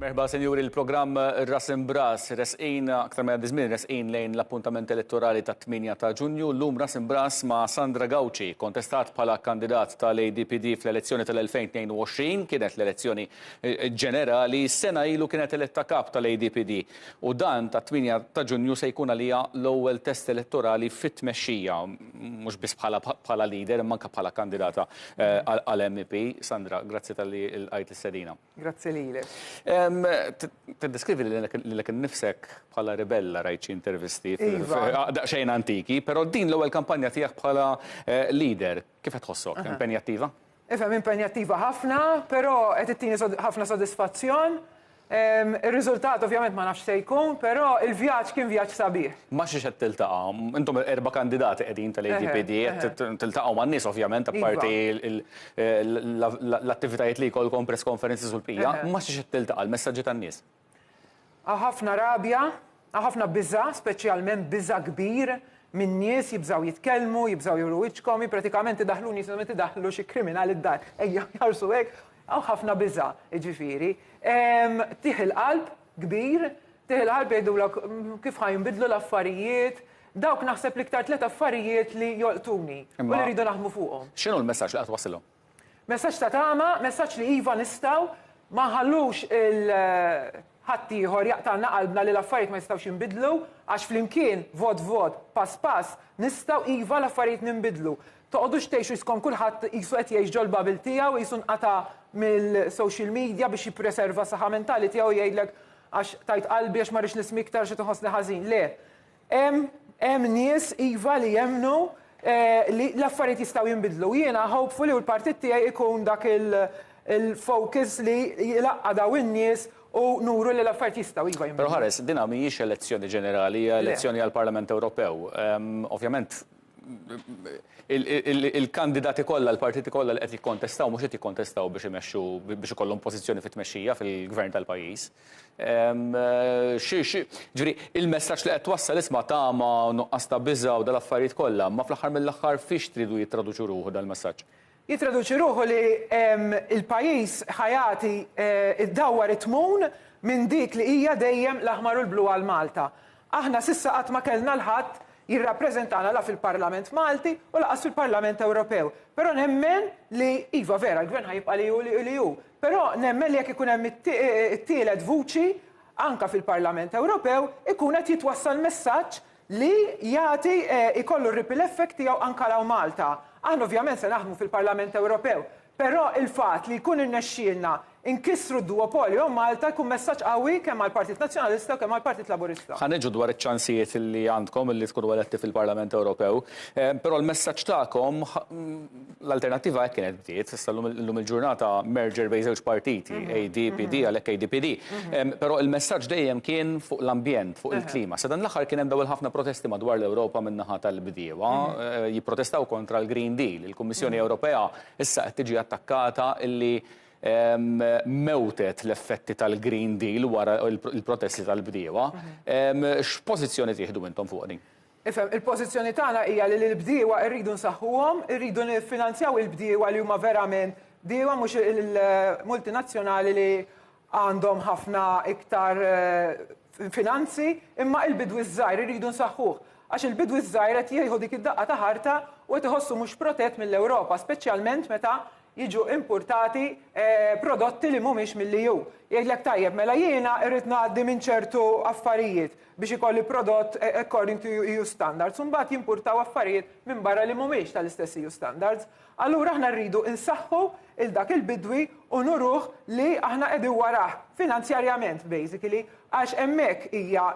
Merħba Sinjuri, il-programm Ras Imb'Ras, resqin aktar ma jgħaddi żmien resqin lejn l-appuntament elettorali tat-8 ta' Ġunju, llum Ras Imb'Ras ma' Sandra Gauci, kontestat bħala kandidat tal-ADPD fl-elezzjoni tal-2022, kienet l-elezzjoni ġenerali, sena ilu kienet eletta Kap tal-ADPD u dan tat-8 ta' Ġunju se jkun għaliha l-ewwel test elettorali fit-tmexxija, mhux biss bħala leader imma anke bħala kandidata għal MEP. Sandra, grazzi talli lqajt l-istedina. Grazzi lilek. Tiddeskrivi lilek innifsek bħala ribella rajt xi intervisti daqsxejn antiki, però din l-ewwel kampanja tiegħek bħala leader kif qed tħossok? Impenjattiva? Ifhem, impenjattiva ħafna, però qed ittini ħafna sodisfazzjon. Ir-riżultat ovvjament ma nafx se jkun, però l-vjaġġ kien vjaġġ sabiħ. Ma' xiex qed tiltaqa'? Intom erba' kandidati qegħdin tal-ADPD, qed tiltaqgħu man-nies ovvjament apparti l-, l-attivitajiet li jkollkom press conferences u l-bqija, ma xiex qed tiltaqa' l-messaġġi tan-nies. Għaw ħafna rabja, għaw ħafna biża', speċjalment biża' kbir min-nies, jibżgħu jitkellmu, jibżgħu juru wiċċkom, jien pratikament idaħħluni jisimgħu meta jdaħħlu xi kriminali d-dar, ejja ħarsu hekk, għaw ħafna biża', jiġifieri. Tih il-qalb kbir, tih il-qalb jgħidulok kif ħa jinbidlu l-affarijiet, Dawk naħseb l-iktar tliet affarijiet li jolqtuni u li rridu naħdmu fuqhom. Imma x'inhu l-messaġġ li qed twassilhom? Messaġġ ta' tama, messaġġ li iva nistgħu, ma nħallux 'il ħaddieħor jaqtagħlna qalbna li l-affarijiet ma jistgħux jinbidlu, għax flimkien, vot vot, pass pass, nistgħu iva l-affarijiet ninbidlu. Toqgħodux tgħixu skom kulħadd qisu qed jgħix ġol-bubble tiegħu, qisu nqata' mill-social media biex jippreserva s-saħħa mentali tiegħu u jgħidlek għax tajt qalbi, għax ma rridx nismi iktar għax qed inħossni ħażin. Le. Hemm hemm nies iva li jemmnu li l-affarijiet jistgħu jinbidlu. Jiena hopefully u l-partit tiegħi ikun dak il-focus li jlaqqa' daw in-nies u nuru li l-affarijiet jistgħu iva jinbidlu. Però ħares, dinha mhijiex elezzjoni ġenerali, hija elezzjoni għall-Parlament Ewropew. Ovvjament il-kandidati kollha, l-partiti kollha li qed jikkontestaw mhux qed jikkontestaw biex imexxu biex ikollhom pożizzjoni fit-tmexxija fil-gvern tal-pajjiż. Ehm, ġifieri, il-messaġġ li qed twassal isma' tama, nuqqas ta' biża' u dal-affarijiet kollha, ma fl-aħħar mill-aħħar fiex tridu jittraduċu ruħu dal-messaġġ? Jittraduċi ruħu li l-pajjiż ħa jagħti, iddawwar it-tmun minn dik li hija dejjem l-aħmar u l-blu għal Malta. Aħna s'issa qatt ma kellna 'l ħadd jirrappreżentana la fil-Parlament Malti u laqas fil-Parlament Ewropew. Però nemmen li, iva vera l-Gvern ħa jibqa' li hu li hu, però nemmen li jekk ikun hemm it-tielet vuċi anke fil-Parlament Ewropew ikun qed jitwassal messaġġ li jagħti jkollu r-ripple effect tiegħu anke hawn Malta. Aħna ovvjament se naħdmu fil-Parlament Ewropew, però il-fatt li jkun irnexxielna nkissru d-duopolju hawn Malta jkun messaġġ qawwi kemm għall-Partit Nazzjonalista u kemm għall-Partit Laburista. Ħa niġu dwar iċ-ċansijiet li għandkom li tkunu eletti fil-Parlament Ewropew, però l-messaġġ tagħkom l-alternattiva hekk kienet bdiet, issa llum il-ġurnata merger bejn żewġ partiti, mhm. ADPD mhm. għalhekk ADPD. Mhm. Però il-messaġġ dejjem kien fuq l-ambjent, fuq il-klima. Sa dan l-aħħar kien hemm dawl ħafna protesti madwar l-Ewropa min-naħa tal-bdiewa, eh, jipprotestaw kontra l-Green Deal. Il-Kummissjoni Ewropea issa qed tiġi attakkata illi mewtet l-effetti tal-Green Deal wara il-protesti tal-bdiewa. X'pożizzjoni tieħdu intom fuq din? Ifhem, il-pożizzjoni tagħna hija li lill-bdiewa rridu nsaħħuhom, irridu niffinanzjaw il-bdiewa li huma verament bdiewa mhux il-multinazzjonali li għandhom ħafna iktar finanzi, imma il-bidwi ż-żgħir irridu nsaħħuh. Għax il-bidwi ż-żgħir qed jieħu dik id-daqqa ta' ħarta u qed iħossu mhux protett mill-Ewropa, speċjalment meta jiġu impurtati prodotti li mhumiex mill-EU. Jgħidlek tajjeb, mela jiena irrid ngħaddi minn ċertu affarijiet biex ikolli prodott according to EU standards u mbagħad jimpurtaw affarijiet minn barra li mhumiex tal-istess EU standards. Allura aħna rridu nsaħħu 'l dak il-bidwi u nuruh li aħna qegħdin warah finanzjarjament basically għax hemmhekk hija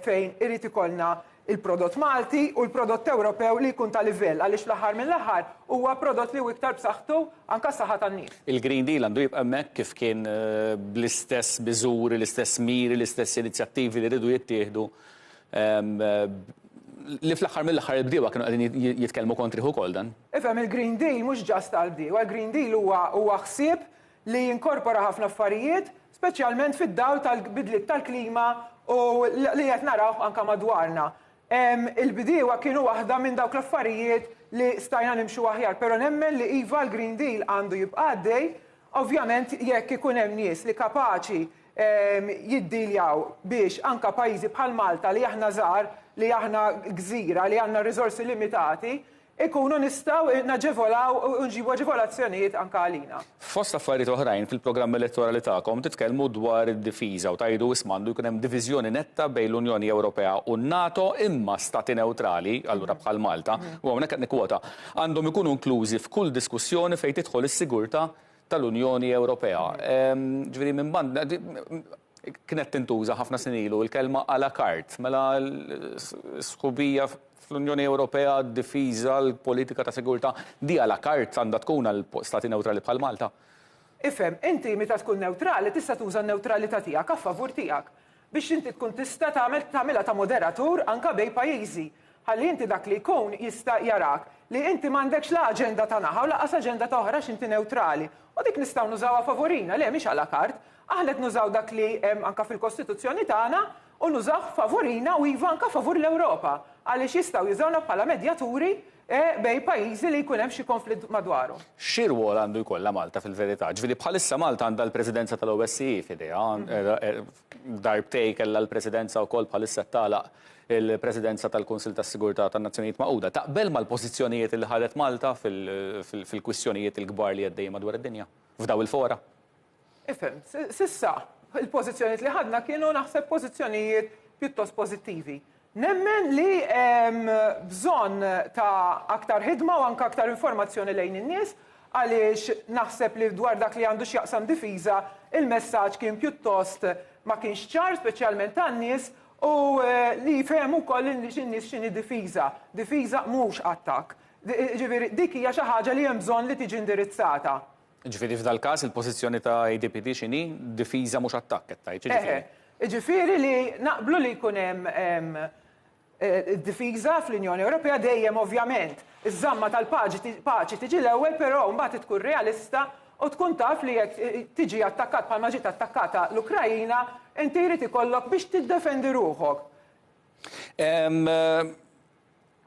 fejn irid ikollna il-prodott Malti u l-prodott Ewropew li jkun ta' livell, għaliex fl-aħħar mill-aħħar huwa prodott li hu iktar b'saħħtu anke għas-saħħa tan-nies. Il-Green Deal għandu jibqa' hemmhekk kif kien bl-istess miżuri, l-istess miri, l-istess inizjattivi li riedu jittieħdu li fl-aħħar mill-aħħar il-bdiewa kienu qegħdin jitkellmu kontrih ukoll dan. Ifhem il-Green Deal mhux just għall-bdiewa, il-Green Deal huwa ħsieb li jinkorpora ħafna affarijiet, speċjalment fid-dawl tal-bidliet tal-klima u li qed narawh anke madwarna. Il-bdiewa kienu waħda minn dawk l-affarijiet li stajna nimxu aħjar, però nemmen li iva l-Green Deal għandu jibqa' għaddej, ovvjament jekk ikun hemm nies li kapaċi jiddealjaw biex anke pajjiżi bħal Malta li aħna żgħar, li aħna gżira, li għandna riżorsi limitati, inkunu nistgħu naġevolaw u nġibu aġevolazzjonijiet anke għalina. Fost affarijiet oħrajn, fil-programm elettorali tagħkom titkellmu dwar id-difiża u tgħidu isma' għandu jkun hemm diviżjoni netta bejn l-Unjoni Ewropea u n-NATO imma Stati newtrali, allura bħal Malta, u hawnhekk qed nikkwota, għandhom ikunu inklużi f'kull diskussjoni fejn tidħol is-sigurtà tal-Unjoni Ewropea. Ġifieri minn banda, Kienet tintuża ħafna snin ilu l-kelma à la carte, mela sħubija fl-Unjoni Ewropea, d-difiża, l-politika ta' sigurtà, di à la carte għandha tkun għal stati newtrali bħal Malta? Ifhem, inti meta tkun newtrali tista' tuża n-newtralità tiegħek a favur tiegħek. Biex inti tkun tista' tagħmel, tagħmilha ta' moderatur anke bejn pajjiżi. Ħalli inti dak li jkun jista' jarak li inti m'għandekx la aġenda ta' naħa u lanqas aġenda ta' oħra għax inti newtrali. U dik nistgħu nużawha favorina, le mhix à la carte. Aħna qed nużaw dak li hemm anke fil-Kostituzzjoni tagħna u nużawh favorina u iva anke favur l-Ewropa għaliex jistgħu jużawna bħala medjaturi bejn pajjiżi li jkun hemm xi konflitt madwarhom. Xi rwol għandu jkollha Malta fil-verità? Ġifieri bħalissa Malta għandha l-Presidenza tal-OSCE f'idejha, Darbtejn kellha l-Presidenza wkoll bħalissa tagħlaq il-Presidenza tal-Kunsill tas-Sigurtà tan-Nazzjonijiet Magħquda. Taqbel mal-pożizzjonijiet li ħadet Malta fil-kwistjonijiet il-kbar li għeddejjin madwar id-dinja, f'daw il-fora? Ifhem. S'issa, il-pożizzjonijiet li ħadna kienu naħseb pożizzjonijiet pjuttost pożittivi. Nemmen li hemm bżonn ta' aktar ħidma u anke aktar informazzjoni lejn in-nies għaliex naħseb li dwar dak li għandu x'jaqsam difiża il-messaġġ kien pjuttost ma kienx ċar speċjalment għan-nies u li jifhemu wkoll lin-nies x'inhi difiża. Difiża mhux attakk. Jiġifieri dik hija xi ħaġa li hemm bżonn li tiġi indirizzata. Jiġifieri f'dal-każ il-pożizzjoni ta' ADPD x'inhi? Difiża mhux attakk qed tgħid, jiġifieri? Jiġifieri li naqblu li jkun hemm id-difiża fl-Unjoni Ewropea dejjem ovvjament. Iż-żamma tal-paċi tiġi l-ewwel però mbagħad tkun realista u tkun taf li jekk tiġi attakkat bħalma ġiet attakkata l-Ukraina inti jrid ikollok biex tiddefendi ruħok.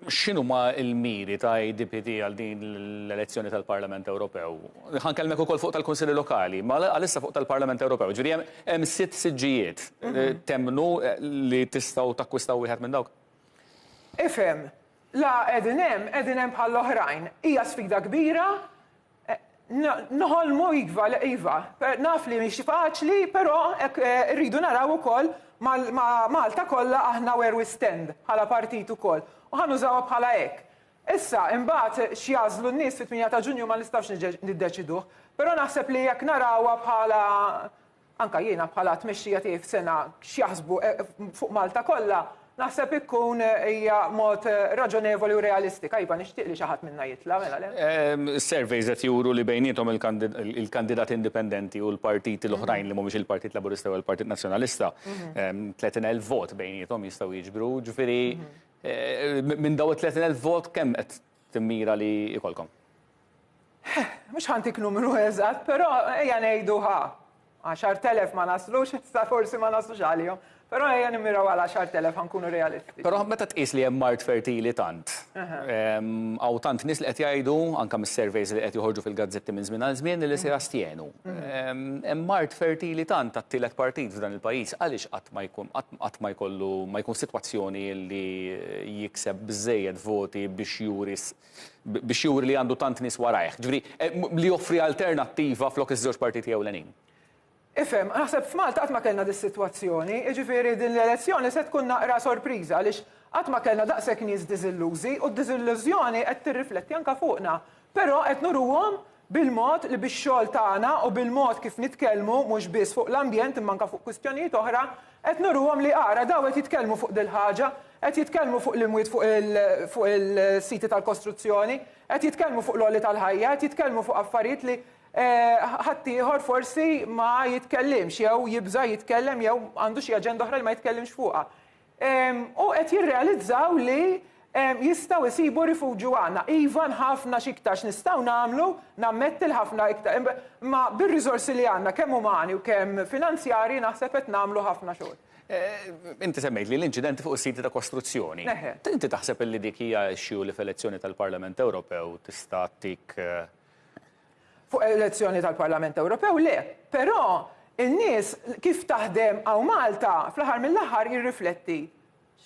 X'inhuma l-miri ta' ADPD għal din l-elezzjoni tal-Parlament Ewropew? Ħa nkellmek ukoll fuq tal-Kunsilli Lokali, ma għalissa fuq tal-Parlament Ewropew. Ġifieri hemm hemm sitt siġġijiet. Temmnu li tistgħu takkwistaw wieħed minn dawk? Ifhem, la qegħdin hemm, qegħdin hemm bħall-oħrajn. Hija sfida kbira, Noħolmu iva, iva, naf li mhix faċli, però hekk irridu naraw ukoll ma' Malta kollha aħna where we stand bħala partit ukoll u ħa nużawha bħala hekk. Issa imbagħad x'jagħżlu n-nies fit-tmienja ta' Ġunju ma nistgħux niddeċiduh, però naħseb li jekk narawha bħala anke jiena bħala tmexxija tiegħi f'sengħa x'jaħsbu fuq Malta kollha, naħseb ikun hija mod raġonevoli u realistika. Iva, nixtieq li xi ħadd minna jitla', mela le? Is-surveys qed juru li bejniethom il-kandidati indipendenti u l-partiti l-oħrajn li mhumiex il-Partit Laburista jew il-Partit Nazzjonalista, 30,000 vot bejniethom jistgħu jiġbru, ġifieri minn dawn it-30,000 vot kemm qed timmira li jkollkom? Mhux ħantik numru eżatt, però ejja ngħidu ħa 10,000 ma naslux, issa forsi ma naslux għalihom, però ejja nimmiraw għal 10,000 ħankunu realisti. Però meta tqis li hemm mard fertili tant, hawn tant nies li qed jgħidu, anke mis-surveys li qed joħorġu fil-gazzetti minn żmien għal żmien, li se jastjenu. Hemm mard fertili tant għat-tielet partit f'dan il-pajjiż, għaliex qatt ma jkun, qatt ma jkollu, ma jkun sitwazzjoni li jikseb biżżejjed voti biex juri biex juri li għandu tant nies warajh. Ġifieri, eh, li joffri alternattiva flok iż-żewġ partiti ewlenin. Ifhem, naħseb f'Malta qatt ma kellna dis-sitwazzjoni, jiġifieri din l-elezzjoni se tkun naqra sorpriża għaliex qatt ma kellna daqshekk nies diżillużi u d-diżillużjoni qed tirrifletti anke fuqna. Però qed nuruhom bil-mod li bix-xogħol tagħna u bil-mod kif nitkellmu mhux biss fuq l-ambjent imma anke fuq kwistjonijiet oħra qed nuruhom li ara dawn qed jitkellmu fuq dil-ħaġa, qed jitkellmu fuq l-imwiet fuq il-siti tal-kostruzzjoni, qed jitkellmu fuq l-għoli tal-ħajja, qed jitkellmu fuq affarijiet li ħaddieħor forsi ma jitkellimx jew jibża' jitkellem jew għandu xi aġenda oħra li ma jitkellimx fuqha. U qed jirrealizzaw li jistgħu jsibu rifuġju għandna. Iva ħafna x'iktar x'nistgħu nagħmlu, nammetti li ħafna iktar, imma bir-riżorsi li għandna kemm umani u kemm finanzjarji naħseb qed nagħmlu ħafna xogħol. Inti semmejtli l-inċidenti fuq is-siti ta' kostruzzjoni. Inti taħseb li dik hija issue li f'elezzjoni tal-Parlament Ewropew tista' ttik Fuq elezzjoni tal-Parlament Ewropew le, però n-nies kif taħdem hawn Malta fl-aħħar mill-aħħar jirrifletti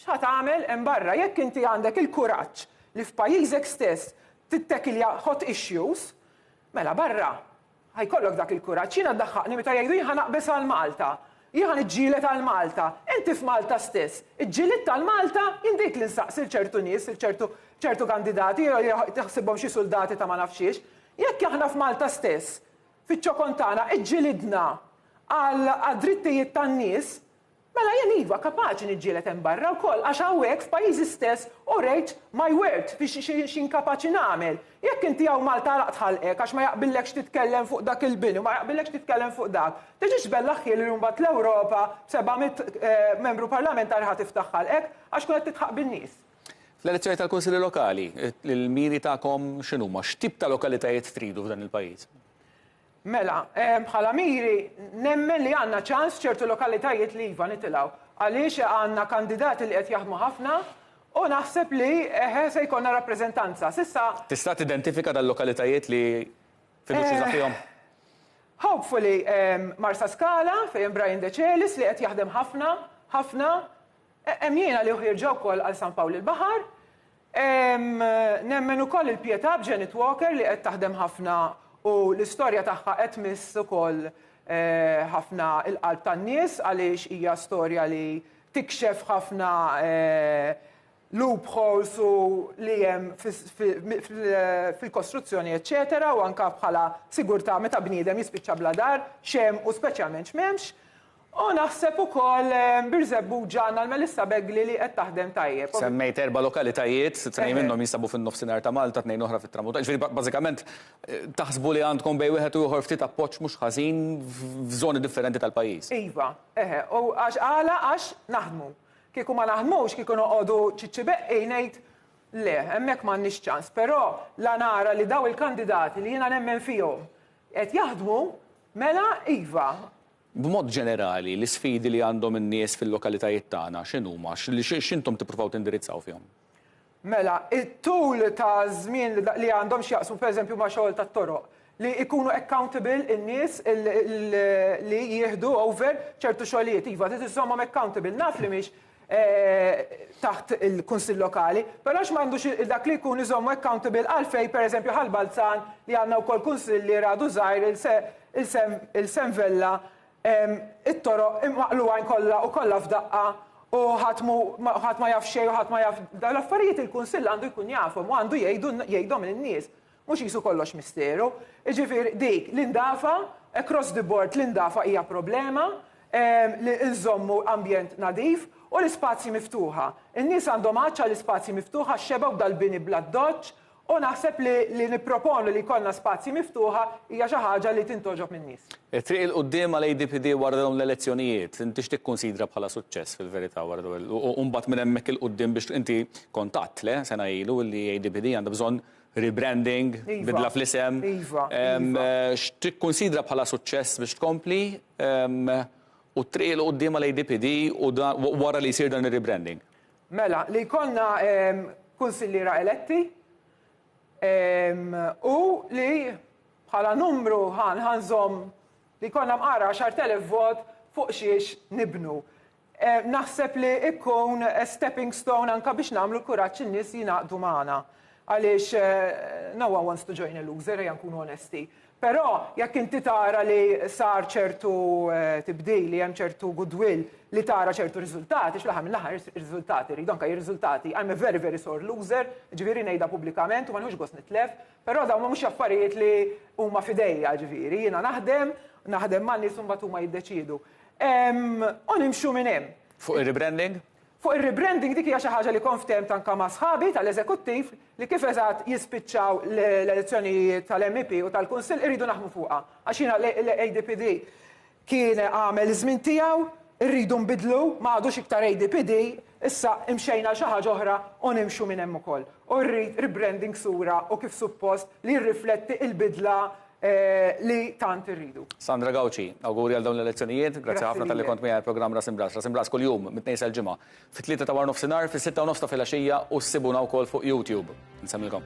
x'ħa tagħmel hemm barra. Jekk inti għandek il-kuraġġ li f'pajjiżek stess tittekilja hot issues, mela barra ħa jkollok dak il-kuraġġ. Jiena ddaħħaqni meta jgħidu jien ħa naqbeż għal Malta. Jien ħa niġġieled għal Malta. Inti f'Malta stess, iġġilidt għal Malta? Jien dik li nsaqsi 'l ċertu nies, 'l ċertu ċertu kandidati jew jew taħsibhom xi suldati ta' ma nafx xiex. Jekk aħna f'Malta stess, fiċ-ċokon tagħna, iġġilidna għal għad-drittijiet tan-nies, mela jien iva, kapaċi niġġieled hemm barra wkoll għax hawnhekk f'pajjiżi stess urejt my worth fi xi xi xi nkapaċi nagħmel. Jekk inti hawn Malta għalaq tħallqek għax ma jaqbillekx titkellem fuq dak il-bini u ma jaqbillekx titkellem fuq dak, tiġix tbellaħ ħiel li mbagħad l-Ewropa b'seba' mitt membru parlamentari ħa tiftaħ ħalqek għax tkun qed tidħaq bin-nies. Fl-elezzjoni tal-Kunsilli Lokali, il-miri tagħkom x'inhuma? X'tip ta' lokalitajiet tridu f'dan il-pajjiż? Mela, bħala miri, nemmen li għandna ċans f'ċertu lokalitajiet li iva nitilgħu, għaliex għandna kandidati li qed jaħdmu ħafna u naħseb li, eħe, se jkollna rappreżentanza. S'issa. Tista' tidentifika dal-lokalitajiet li fiduċjuża fihom? Hopefully Marsaskala, fejn hemm Brian Decelis li qed jaħdem ħafna, ħafna. Hemm jiena li uħierġa wkoll għal San Pawl il-Baħar. Nemmen ukoll il-pjetà b'Janet Walker li qed taħdem ħafna u l-istorja tagħha qed tmiss ukoll ħafna l-qalb tan-nies għaliex hija storja li tikxef ħafna loopholes u li hemm fil-kostruzzjoni eċċetera u anke bħala sigurtà meta bniedem jispiċċa bla dar x'hemm u speċjalment x'm'hemmx. O naħseb ukoll Birżebbuġa għandna l-Melissa Begli li qed taħdem tajjeb. Semmejt erba' lokalitajiet, tnejn minnhom jinsabu fin-Nofsinhar ta' Malta, tnejn oħra fit-Tramuntana, jiġifieri bażikament taħsbu li għandkom bejn wieħed u ieħor ftit appoġġ mhux ħażin f'żoni differenti tal-pajjiż. Iva, eħe, u għax għala għax naħdmu. Kieku ma naħdmux, kieku noqogħdu ċiċċi beqqi ngħid le, hemmhekk m'għandniex ċans. Però la nara li dawn il-kandidati li jiena nemmen fihom qed jaħdmu, mela iva, B'mod ġenerali, l-isfidi li għandhom in-nies fil-lokalitajiet tagħna x'inhuma? X'intom tippruvaw tindirizzaw fihom? Mela, it-tul ta' żmien li għandhom x'jaqsmu pereżempju ma' xogħol tat-toroq, li jkunu accountable in-nies li jieħdu over ċertu xogħlijiet. Iva, trid iżżommhom accountable. Naf li mhix taħt il-Kunsill Lokali, però x' m'għandux dak li jkun iżommu accountable għalfejn pereżempju Ħal Balzan li għandna wkoll Kunsill li għadu żgħir il-Sem Vella it-toroq imaqlugħin kollha u kollha f'daqqa u ħadd mhu ħadd ma jaf xejn u ħadd ma jaf dawn l-affarijiet il-Kunsill għandu jkun jafhom u għandu jgħidu jgħidhom lin-nies. Mhux qisu kollox misteru. Jiġifieri dik l-indafa, across the board l-indafa hija problema, li nżommu ambjent nadif u l-ispazji miftuħa. In-nies għandhom għatx għal ispazji miftuħa, xebgħu dal-bini bl-addoċċ u naħseb li li nipproponu li jkollna spazji miftuħa hija xi ħaġa li tintgħoġob min-nies. It-triq 'il quddiem għal ADPD wara dawn l-elezzjonijiet, inti x'tikkunsidra bħala suċċess fil-verità wara dawn u mbagħad minn hemmhekk 'il quddiem biex inti kont għedt, le, sena ilu li ADPD għandha bżonn rebranding, bidla fl-isem, x'tikkunsidra bħala suċċess biex tkompli u t-triq 'il quddiem għal ADPD wara li jsir dan ir-rebranding? Mela, li jkollna kunsilliera eletti u li bħala numru ħa nżomm li jkollna mqar 10,000 vot fuq xiex nibnu. Naħseb li jkun stepping stone anke biex nagħmlu l-kuraġġ in-nies jingħaqdu magħna. Għaliex no one wants to join a loser, ejja nkunu onesti. Però jekk inti tara li sar ċertu tibdil, li hemm ċertu goodwill, li tara ċertu riżultati, fl-aħħar mill-aħħar riżultati rridu, anke jekk riżultati, I'm a very very sore loser, jiġifieri ngħidha pubblikament u ma nieħux gost nitlef, però dawn mhumiex affarijiet li huma f'idejja, jiġifieri jiena naħdem, naħdem man-nies u mbagħad huma jiddeċiedu. U nimxu minn hemm. Fuq ir-rebranding? Fuq ir-rebranding dik hija xi ħaġa li kont ftehmt anke ma' sħabi tal-eżekuttiv li kif eżatt jispiċċaw l-elezzjonijiet tal-MEP u tal-Kunsill irridu naħdmu fuqha. Għax jiena l-ADPD kien għamel iż-żmien tiegħu, irridu nbiddlu, ma għadux iktar ADPD, issa imxejna għal xi ħaġa oħra u nimxu minn hemm ukoll. U rrid rebranding sura u kif suppost li jirrifletti l-bidla li tant irridu. Sandra Gauci, Awguri għal dawn l-elezzjonijiet. Grazzi ħafna talli kont miegħi għall-programm Ras Imbras. Ras Imbras kuljum mit-Tnejn sal-Ġimgħa fit-tlieta ta' warnofsinhar, fis-sitta u nofs ta' filgħaxija u ssibuna wkoll fuq YouTube. Insemmilkom.